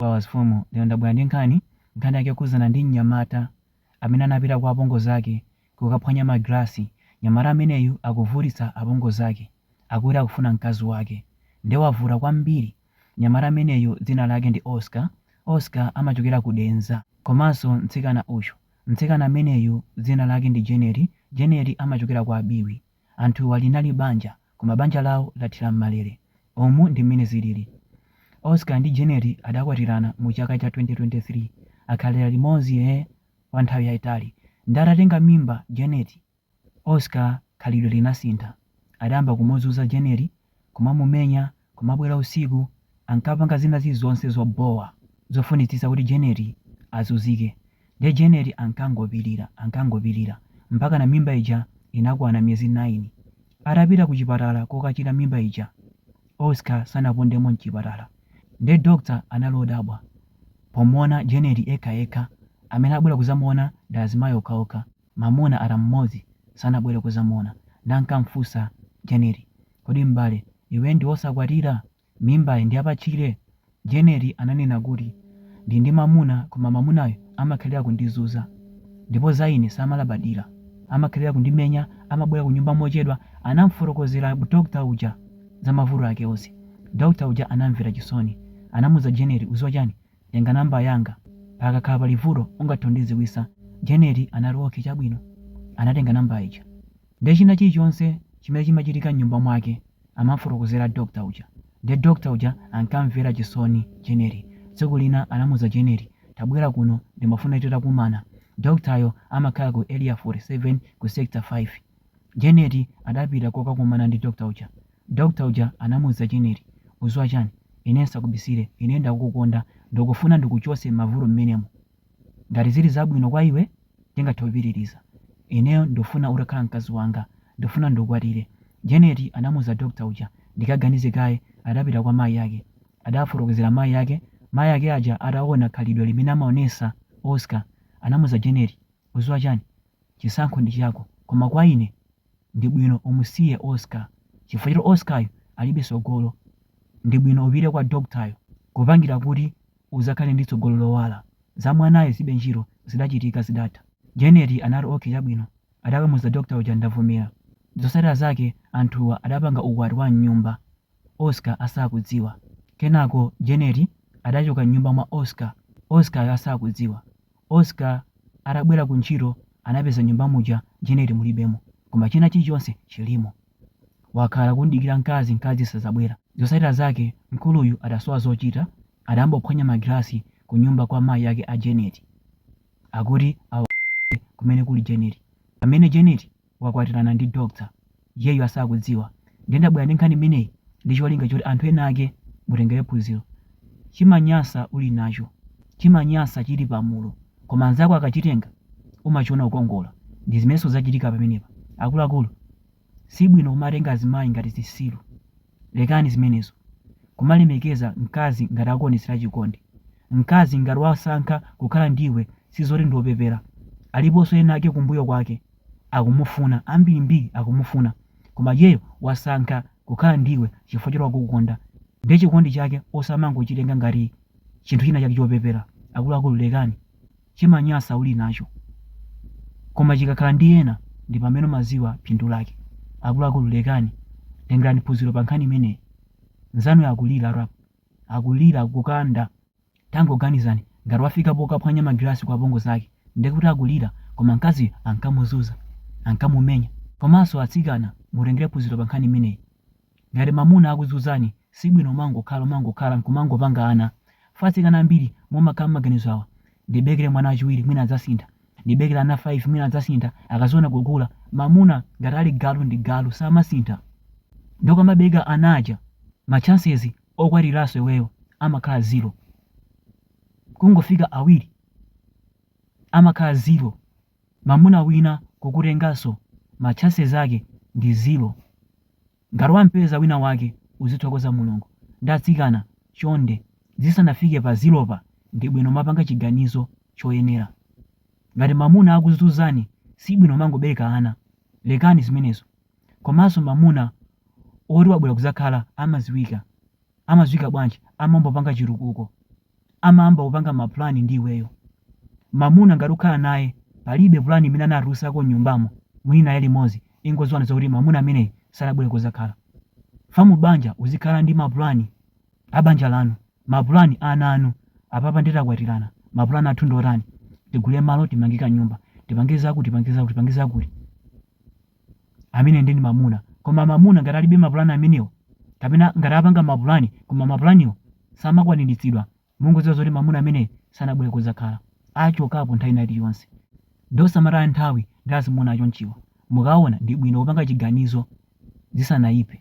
Flowers Fumu lero ndabwera ndi nkhani, nkhani yake yokhudzana ndi mnyamata amene anapita kwa apongozi ake kukaphwanya ma glass, mnyamata ameneyu akuvutitsa apongozi ake, akuti akufuna mkazi wake, nde wavuta kwambiri, mnyamata ameneyu dzina lake ndi Oscar, Oscar amachokera ku Denza, komanso mtsikana uyu, mtsikana ameneyu dzina lake ndi Janet, Janet amachokera kwa Biwi. Anthuwa linali banja, koma banja lawo lathera m'malere. Umu ndi mmene zilili. Oscar ndi Janet adakwatirana mu chaka cha 2023. Akhalira limodzi ee kwa nthawi yaitali. Nde atatenga mimba Janet, Oscar khalidwe linasintha. Adayamba kumuzuza Janet kumamumenya, kumabwera usiku, ankapanga zina zilizonse zobhowa, zofunitsitsa kuti Janet azuzike. Nde Janet ankangopilira, ankangopilira, mpakana mimba ija inakwana miyezi 9. Atapita kuchipatala kokachira mimba ija, Oscar sanapondemo mchipatala. Nde doctor anali odabwa pomuona Janet ekha ekha, amene abwera kuzamuona ndi azimayi okhaokha. Mamuna ata mmodzi sanabwere kuzamuona ndankamfusa Janet kodi m'bale iwe ndiwosakwatira? Mimbayi ndiyapatchire? Janet ananena kuti ndili ndi mamuna koma mamunayo amakhalira kundizuza ndipo za ine samalabadira amakhalira kundimenya amabwera kunyumba mochedwa anamfotokozera doctor uja za mavuto ake onse doctor uja anamvera chisoni anamuza Janet uziwa chani Tenga namba yanga. Pakakhala pali vuto ungathe kundidziwitsa. Janet anati, Ok, chabwino. Anatenga namba ija. Ndiye china chilichonse chimene chimachitika m'nyumba mwake amam'fotokozera doctor uja. Ndiye doctor uja ankamvera chisoni Janet. Tsiku lina anamuuza Janet, Tabwera kuno, ndimafuna titakumana. Doctor yo amakhala ku Area 47 ku Sector 5. Janet adapita kokakumana ndi doctor uja. Doctor uja anamuuza Janet, Uziwa chani? Ine nsakubisile, ine ndakukukonda, ndukufuna ndikuchose m'mavuto m'menemo. Ngati zili zabwino kwa iwe, tingathe kupitiliza. Ineyo ndufuna utakhala mkazi wanga. Ndufuna ndukwatile. Janet anamuuza Doctor uja, Ndikaganize kaye, adapita kwa mayi ake. Adawafotokozela mayi ake. Mayi ake aja atawona khalidwe limene amaonesa Oscar, anamuuza Janet, Uziwa chani? Chisankho ndi chako. Koma kwa ine, ndibwino umusiye Oscar chifukwa choti Oscar yo alibe tsogolo ndibwino upite kwa doctor yo kupangira kuti uzakhale ndi tsogolo lowala za mwanayo zibe ntchito zidachitika zidatha Janet anati ok chabwino adakamuza doctor uja ndavomera zosatira zake anthuwa adapanga ukwati wa mnyumba Oscar asakudziwa kenako Janet adachoka mnyumba mwa Oscar Oscar yo asakudziwa Oscar atabwera ku ntchito anapeza nyumba muja Janet mulibemo koma china chilichonse chilimo. Wakhala kumdikira mkazi, mkazi sazabwera. Zosatira zake mkuluyu atasowa zochita adayamba kuphwanya ma glass ku nyumba kwa mayi ake a Janet akuti awawonetse kumene kuli Janet. Pamene Janet wakwatirana ndi Doctor, iyeyu asakudziwa. Ndiye ndabwera ndi nkhani imeneyi ndi cholinga choti anthu ena ake mutengere phunziro. Chimanyasa uli nacho, chimanyasa chili pamalo, koma anzako akachitenga umachiona kukongola. Ndi zimenenso zachitika pamenepa. Akuluakulu, si bwino kumatenga azimayi ngati zisiru. Lekani zimenezo. Kumalemekeza mkazi ngati akuonetsera chikondi. Mkazi ngati wasankha kukhala ndi iwe si zoti ndi wopepera. Aliponso ena ake kumbuyo kwake akumufuna, ambirimbiri akumufuna. Koma iyeyo wasankha kukhala ndi iwe chifukwa choti wakukonda. Ndiye chikondi chake osamangochitenga ngati chinthu china chake chopepera. Akuluakulu lekani. chimanyasa uli nacho koma chikakhala ndi ena ndi pamene umaziwa phindu lake akuluakulu lekani tengerani phunziro pa nkhani imeneyi nzanuyo akuliratu akulira kukanda tangoganizani ngati wafika pokaphwanya magilasi kwa apongozi ake ndiye kuti akulira koma mkaziyo ankamuzuza ankamumenya komanso atsikana mutengere phunziro pa nkhani imeneyi Ngati mamuna akukuzuzani sibwino umangokhala umangokhala nkumangopanga ana. Chifukwa atsikana ambiri mumakhala mmaganizo aaa, ndibeleke mwana wachiwiri mwina adzasintha, ndibeleke ana 5 mwina adzasintha akaziona kukula. Mamuna ngati ali galu ndi galu samasintha. Nde ukamabeleka ana aja ma chances okwatiranso iweyo amakhala zero. Kungofika awiri amakhala zero. mamuna wina kukutengaso ma chances ake ndi zero ngati wampeza wina wake uzithokoza mulungu nde atsikana chonde zisanafike pa zero pa ndibwino kumapanga chiganizo choyenera ngati mamuna akukuzuzani sibwino umangobeleka ana lekani zimenezo komaso mamuna oti wabwera kuzakhala amaziwika amaziwika bwanji amayamba kupanga chitukuko amayamba kupanga mapulani ndi iweyo mamuna ngati ukhala naye palibe pulani imene anatulusako nyumbamo muli naye limodzi ingoziwani zakuti mamuna ameneyi sanabwere kuzakhala chifukwa mu banja uzikhala ndi mapulani abanja lanu mapulani ana anu apapa nde takwatirana mapulani athu ndotani tigule malo timange nyumba tipange zakuti tipange zakuti tipange zakuti ameneyo nde ndi mamuna koma mamuna ngati alibe mapulani amenewo kapena ngati apanga mapulani koma mapulaniwo samakwaniritsidwa mungodziwa zoti mamuna ameneyo sanabwere kudzakhala achokapo nthawi ina iliyonse nde osamataya nthawi ndi azimuna achonchiwa mukaona ndi bwino kupanga chiganizo zisanayipe.